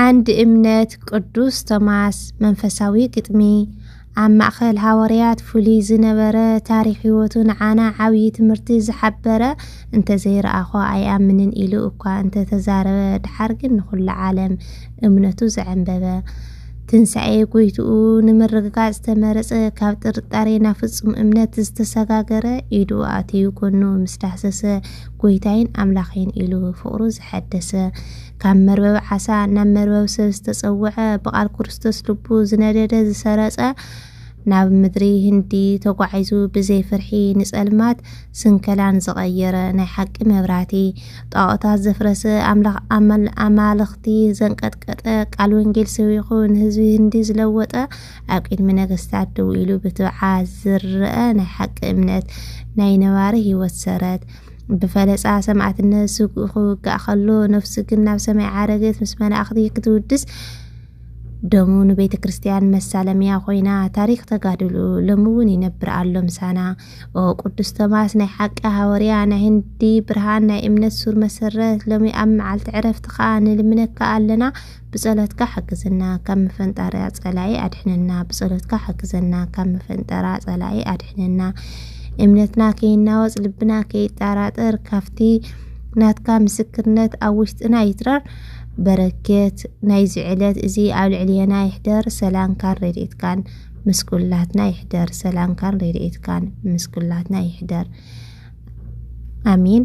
ዓንዲ እምነት ቅዱስ ቶማስ መንፈሳዊ ግጥሚ ኣብ ማእኸል ሃወርያት ፍሉይ ዝነበረ ታሪክ ህይወቱ ንዓና ዓብዪ ትምህርቲ ዝሓበረ እንተዘይረኣኾ ኣይኣምንን ኢሉ እኳ እንተተዛረበ ድሓር ግን ንኹሉ ዓለም እምነቱ ዘዐንበበ ትንሳኤ ጎይትኡ ንምርግጋፅ ዝተመረፀ ካብ ጥርጣሬ ናብ ፍፁም እምነት ዝተሰጋገረ ኢዱ ኣትዩ ጎኑ ምስ ዳህሰሰ ጎይታይን ኣምላኸይን ኢሉ ፍቕሩ ዝሐደሰ ካብ መርበብ ዓሳ ናብ መርበብ ሰብ ዝተጸውዐ ብቓል ክርስቶስ ልቡ ዝነደደ ዝሰረጸ ናብ ምድሪ ህንዲ ተጓዒዙ ብዘይ ፍርሒ ንጸልማት ስንከላን ዝቐየረ ናይ ሓቂ መብራቲ ጣዖታት ዘፍረሰ ኣምላኽ ኣማልኽቲ ዘንቀጥቀጠ ቃል ወንጌል ሰቢኹ ንህዝቢ ህንዲ ዝለወጠ ኣብ ቅድሚ ነገስታት ደው ኢሉ ብትብዓ ዝረአ ናይ ሓቂ እምነት ናይ ነባሪ ህይወት ሰረት ብፈለጻ ሰማእትነት ስግኡ ክውጋእ ከሎ ነፍሱ ግን ናብ ሰማይ ዓረገት ምስ መላእኽቲ ክትውድስ ደሙ ንቤተ ክርስቲያን መሳለምያ ኮይና ታሪክ ተጋድሉ ሎሚ እውን ይነብር ኣሎ ምሳና ኦ ቅዱስ ቶማስ ናይ ሓቂ ሃወርያ ናይ ህንዲ ብርሃን ናይ እምነት ሱር መሰረት ሎሚ ኣብ መዓልቲ ዕረፍትኻ ንልምነካ ኣለና ብጸሎትካ ሓግዝና ካብ መፈንጠርያ ጸላኢ ኣድሕነና ብጸሎትካ ሓግዘና ካብ መፈንጠራ ጸላኢ ኣድሕነና እምነትና ከይናወጽ ልብና ከይጣራጠር ካብቲ ናትካ ምስክርነት ኣብ ውሽጥና ይትረር በረኬት ናይዚ ዕለት እዚ ኣብ ልዕልየና ይሕደር ሰላምካን ረድኤትካን ምስ ኩላትና ይሕደር ሰላምካን ረድኤትካን ምስ ኩላትና ይሕደር ኣሜን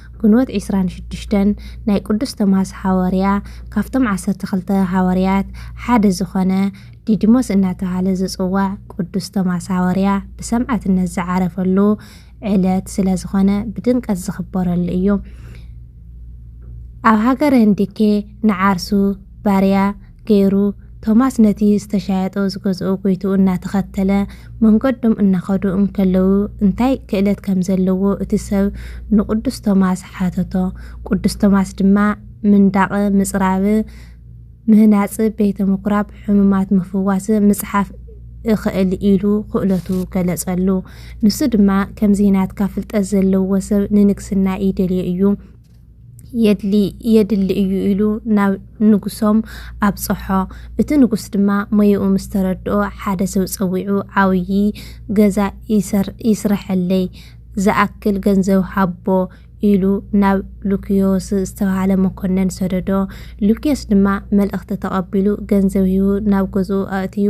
ግንቦት ዕስራን ሽዱሽተን ናይ ቅዱስ ቶማስ ሓወርያ ካብቶም ዓሰርተ ክልተ ሃወርያት ሓደ ዝኾነ ዲዲሞስ እናተባህለ ዝጽዋዕ ቅዱስ ቶማስ ሃወርያ ብሰማዕትነት ዝዓረፈሉ ዕለት ስለ ዝኾነ ብድምቀት ዝኽበረሉ እዩ። ኣብ ሃገረ ህንዲኬ ንዓርሱ ባርያ ገይሩ፣ ቶማስ ነቲ ዝተሻየጦ ዝገዝኦ ጎይትኡ እናተኸተለ መንገዶም እናኸዱ እንከለዉ እንታይ ክእለት ከም ዘለዎ እቲ ሰብ ንቅዱስ ቶማስ ሓተቶ። ቅዱስ ቶማስ ድማ ምንዳቕ ምጽራብ፣ ምህናጽ ቤተ ምኵራብ፣ ሕሙማት ምፍዋስ፣ ምጽሓፍ እኸእል ኢሉ ክእለቱ ገለጸሉ። ንሱ ድማ ከምዚ ናትካ ፍልጠት ዘለዎ ሰብ ንንግስና ይደልዮ እዩ፣ የድሊ እዩ ኢሉ ናብ ንጉሶም ኣብፀሖ። እቲ ንጉስ ድማ ሞይኡ ምስ ተረድኦ ሓደ ሰብ ፀዊዑ ዓብዪ ገዛ ይስረሐለይ ዝኣክል ገንዘብ ሃቦ ኢሉ ናብ ሉክዮስ ዝተባህለ መኮነን ሰደዶ። ሉክዮስ ድማ መልእኽቲ ተቐቢሉ ገንዘብ ሂቡ ናብ ገዝኡ ኣእትዩ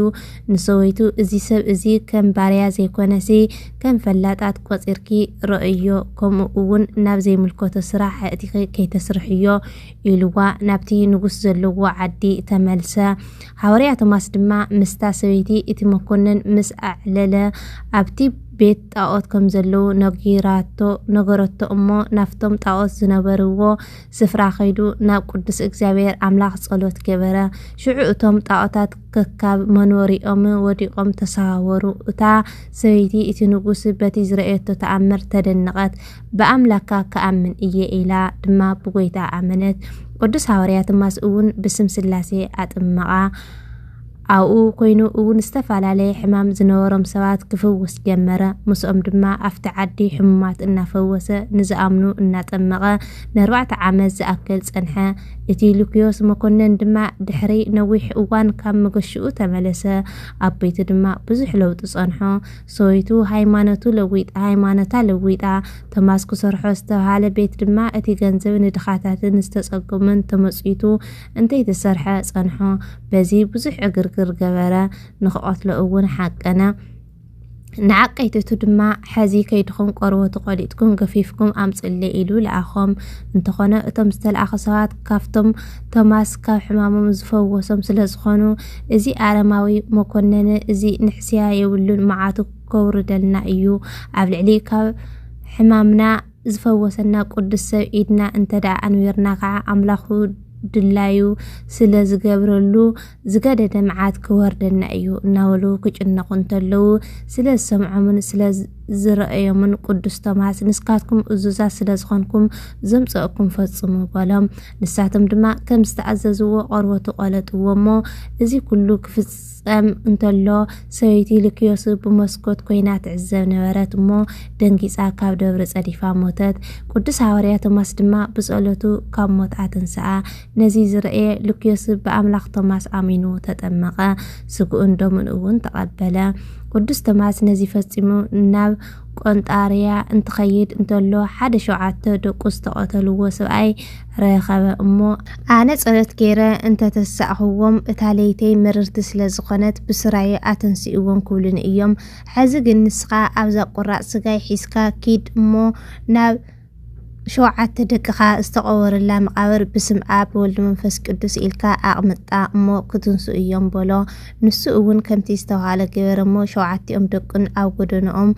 ንሰበይቱ እዚ ሰብ እዚ ከም ባርያ ዘይኮነሲ ከም ፈላጣት ቆጺርኪ ረኦዮ ከምኡ እውን ናብ ዘይምልከቶ ስራሕ ኣእቲኺ ከይተስርሕዮ ኢልዋ ናብቲ ንጉስ ዘለዎ ዓዲ ተመልሰ። ሃወርያ ቶማስ ድማ ምስታ ሰበይቲ እቲ መኮንን ምስ ኣዕለለ ኣብቲ ቤት ጣኦት ከም ዘለዉ ነጊራቶ ነገረቶ እሞ ናፍቶም ጣኦት ዝነበርዎ ስፍራ ከይዱ ናብ ቅዱስ እግዚኣብሔር ኣምላኽ ጸሎት ገበረ። ሽዑ እቶም ጣዖታት ከካብ መንወሪኦም ወዲቖም ተሰዋወሩ። እታ ሰበይቲ እቲ ንጉስ በቲ ዝረእየቶ ተኣምር ተደነቐት። ብኣምላካ ክኣምን እየ ኢላ ድማ ብጎይታ ኣመነት። ቅዱስ ሃዋርያ ትማስ እውን ብስም ስላሴ ኣጥመቓ። ኣብኡ ኰይኑ እውን ዝተፈላለየ ሕማም ዝነበሮም ሰባት ክፍውስ ጀመረ። ምስኦም ድማ ኣብቲ ዓዲ ሕሙማት እናፈወሰ ንዝኣምኑ እናጠመቐ ንኣርባዕተ ዓመት ዝኣክል ጸንሐ። እቲ ሉክዮስ መኰነን ድማ ድሕሪ ነዊሕ እዋን ካብ መገሽኡ ተመለሰ፣ ኣብ ቤቱ ድማ ብዙሕ ለውጢ ጸንሖ። ሰበይቱ ሃይማኖቱ ለዊጣ ሃይማኖታ ለዊጣ። ቶማስ ክሰርሖ ዝተብሃለ ቤት ድማ እቲ ገንዘብ ንድኻታትን ዝተጸገሙን ተመጽዊቱ እንተይተሰርሐ ጸንሖ በዚ ብዙሕ ዕግርግር ገበረ ንክቐትሎ እውን ሓቀነ ንዓቀይትቱ ድማ ሐዚ ከይድኹም ቆርበቱ ቆሊጥኩም ገፊፍኩም ኣምፅሌ ኢሉ ለኣኾም እንተኾነ እቶም ዝተለኣኹ ሰባት ካብቶም ቶማስ ካብ ሕማሞም ዝፈወሶም ስለ ዝኾኑ እዚ ኣረማዊ መኮነነ እዚ ንሕስያ የብሉን መዓቱ ከውርደልና እዩ ኣብ ልዕሊ ካብ ሕማምና ዝፈወሰና ቁዱስ ሰብ ኢድና እንተድኣ ኣንቢርና ከዓ ኣምላኩ ድላዩ ስለ ዝገብረሉ ዝገደደ ምዓት ክወርደና እዩ እናበሉ ክጭነቁ እንተለዉ ስለ ዝሰምዖምን ስለ ዝረእዮምን ቁዱስ ቶማስ ንስካትኩም እዙዛት ስለ ዝኮንኩም ዘምፀእኩም ፈፅሙ በሎም ንሳቶም ድማ ከም ዝተኣዘዝዎ ቆርበቱ ቆለጥዎ እሞ እዚ ኩሉ ክፍፅ ጸም እንተሎ ሰበይቲ ልክዮስ ብመስኮት ኮይና ትዕዘብ ነበረት እሞ ደንጊጻ ካብ ደብሪ ጸዲፋ ሞተት። ቅዱስ ሃዋርያ ቶማስ ድማ ብጸሎቱ ካብ ሞት ኣተንስኣ። ነዚ ዝረእየ ልክዮስ ብኣምላኽ ቶማስ ኣሚኑ ተጠመቐ፣ ስግኡን ደሙን እውን ተቐበለ። ቅዱስ ቶማስ ነዚ ፈጺሙ ናብ ቆንጣርያ እንትኸይድ እንተሎ ሓደ ሸውዓተ ደቁ ዝተቐተልዎ ሰብኣይ ረኸበ እሞ፣ ኣነ ጸሎት ገይረ እንተ ተሳእኽዎም፣ እታ ለይተይ ምርርቲ ስለ ዝዀነት ብስራየ ኣተንስእዎም ክብሉኒ እዮም። ሕዚ ግን ንስኻ ኣብዛ ቍራጽ ስጋይ ሒዝካ ኪድ እሞ፣ ናብ ሸውዓተ ደቅኻ ዝተቐበሩላ መቓብር ብስም ኣብ፣ ብወልድ መንፈስ ቅዱስ ኢልካ ኣቕምጣ እሞ ክትንስኡ እዮም በሎ። ንሱ እውን ከምቲ ዝተባህሎ ገበረ እሞ፣ ሸውዓቲኦም ደቁን ኣብ ጐደናኦም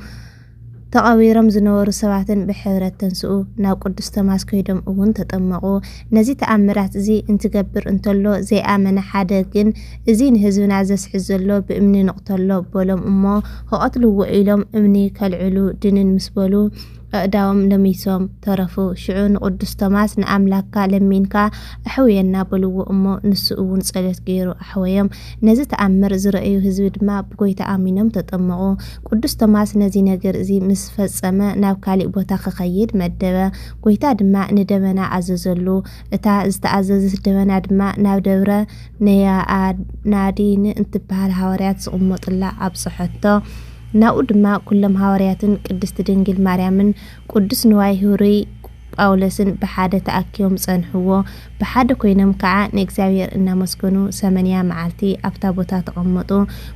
ተቐቢሮም ዝነበሩ ሰባትን ብሕብረት ተንስኡ፣ ናብ ቅዱስ ቶማስ ከይዶም እውን ተጠመቑ። ነዚ ተኣምራት እዚ እንትገብር እንተሎ ዘይኣመነ ሓደ ግን እዚ ንህዝብና ዘስሕት ዘሎ ብእምኒ ንቕተሎ በሎም እሞ ክቐትልዎ ኢሎም እምኒ ከልዕሉ ድንን ምስ በሉ ኣእዳዎም ለሚሶም ተረፉ። ሽዑ ንቅዱስ ቶማስ ንኣምላክካ ለሚንካ ኣሕውየና በልዎ እሞ ንሱ እውን ጸሎት ገይሩ ኣሕወዮም። ነዚ ተኣምር ዝረእዩ ህዝቢ ድማ ብጎይታ ኣሚኖም ተጠመቑ። ቅዱስ ቶማስ ነዚ ነገር እዚ ምስ ፈጸመ ናብ ካልእ ቦታ ኺኸይድ መደበ። ጐይታ ድማ ንደበና ኣዘዘሉ፣ እታ ዝተኣዘዘት ደበና ድማ ናብ ደብረ ነያናዲን እትብሃል ሃዋርያት ዝቕመጡላ ኣብጽሐቶ። ናብኡ ድማ ኵሎም ሃዋርያትን ቅድስቲ ድንግል ማርያምን ቅዱስ ንዋይ ህሩይ፣ ጳውሎስን ብሓደ ተኣኪቦም ጸንሕዎ፣ ብሓደ ኮይኖም ከኣ ንእግዚኣብሄር እናመስገኑ ሰመንያ መዓልቲ ኣብታ ቦታ ተቐመጡ።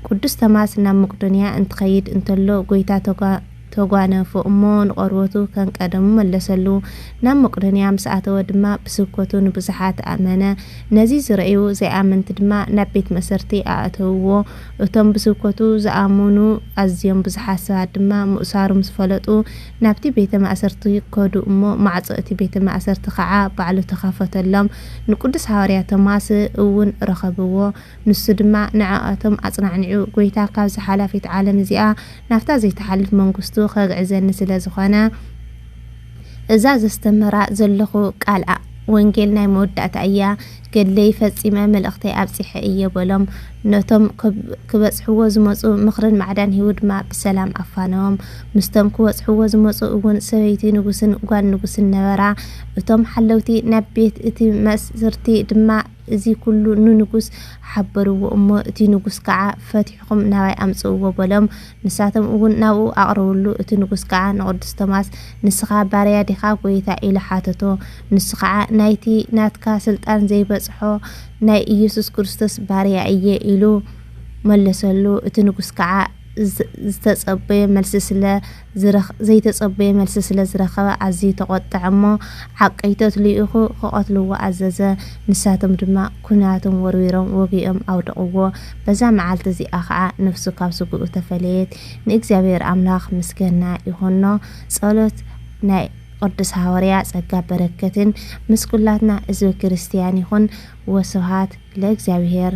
ቅዱስ ተማስ ናብ መቅዶንያ እንትኸይድ እንተሎ ጎይታ ተጓነፎ እሞ ንቆርበቱ ከንቀደሙ መለሰሉ። ናብ መቅዶንያ ምስ ኣተወ ድማ ብስብከቱ ንብዙሓት ኣእመነ። ነዚ ዝረእዩ ዘይኣመንቲ ድማ ናብ ቤት መእሰርቲ ኣእተውዎ። እቶም ብስብከቱ ዝኣሙኑ ኣዝዮም ብዙሓት ሰባት ድማ ምእሳሩ ምስ ፈለጡ ናብቲ ቤተ ማእሰርቲ ከዱ እሞ ማዕጾ እቲ ቤተ ማእሰርቲ ኸዓ ባዕሉ ተኸፈተሎም። ንቅዱስ ሓዋርያ ቶማስ እውን ረኸብዎ። ንሱ ድማ ንዕኣቶም ኣጽናዕኒዑ ጐይታ ካብዛ ሓላፊት ዓለም እዚኣ ናብታ ዘይትሓልፍ መንግስቱ ኸግዕዘኒ ስለ ዝኾነ እዛ ዘስተምህራ ዘለኹ ቃል ወንጌል ናይ መወዳእታ እያ፣ ገድለይ ፈጺመ መልእኽተይ ኣብጺሐ እየ በሎም። ነቶም ክበጽሕዎ ዝመጹ ምኽርን ማዕዳን ሂቡ ድማ ብሰላም ኣፋነዎም። ምስቶም ክበጽሕዎ ዝመጹ እውን ሰበይቲ ንጉስን ጓል ንጉስን ነበራ። እቶም ሓለውቲ ናብ ቤት እቲ መስርቲ ድማ እዚ ኩሉ ንንጉስ ሓበርዎ እሞ እቲ ንጉስ ከዓ ፈቲሕኹም ናባይ ኣምጽእዎ በሎም። ንሳቶም እውን ናብኡ ኣቕረብሉ፣ እቲ ንጉስ ከዓ ንቅዱስ ቶማስ ንስኻ ባርያ ዲኻ ጎይታ ኢሉ ሓተቶ፣ ንሱ ከዓ ናይቲ ናትካ ስልጣን ዘይበጽሖ ናይ እየሱስ ክርስቶስ ባርያ እየ ኢሉ መለሰሉ፣ እቲ ንጉስ ከዓ ዝተጸበዮ መልሲ ስለ ዘይተጸበዮ መልሲ ስለ ዝረኸበ ኣዝዩ ተቆጥዐ እሞ ዓቀይቶት ልኢኹ ክቐትልዎ ኣዘዘ፣ ንሳቶም ድማ። ኲናቶም ወርዊሮም ወጊኦም ኣውደቕዎ። በዛ መዓልቲ እዚኣ ኸኣ ነፍሱ ካብ ስግኡ ተፈለየት። ንእግዚኣብሔር ኣምላኽ ምስገና ይኹኖ። ጸሎት ናይ ቅዱስ ሃወርያ ጸጋ በረከትን ምስ ኩላትና ሕዝበ ክርስቲያን ይኹን። ወስብሃት ለእግዚኣብሔር።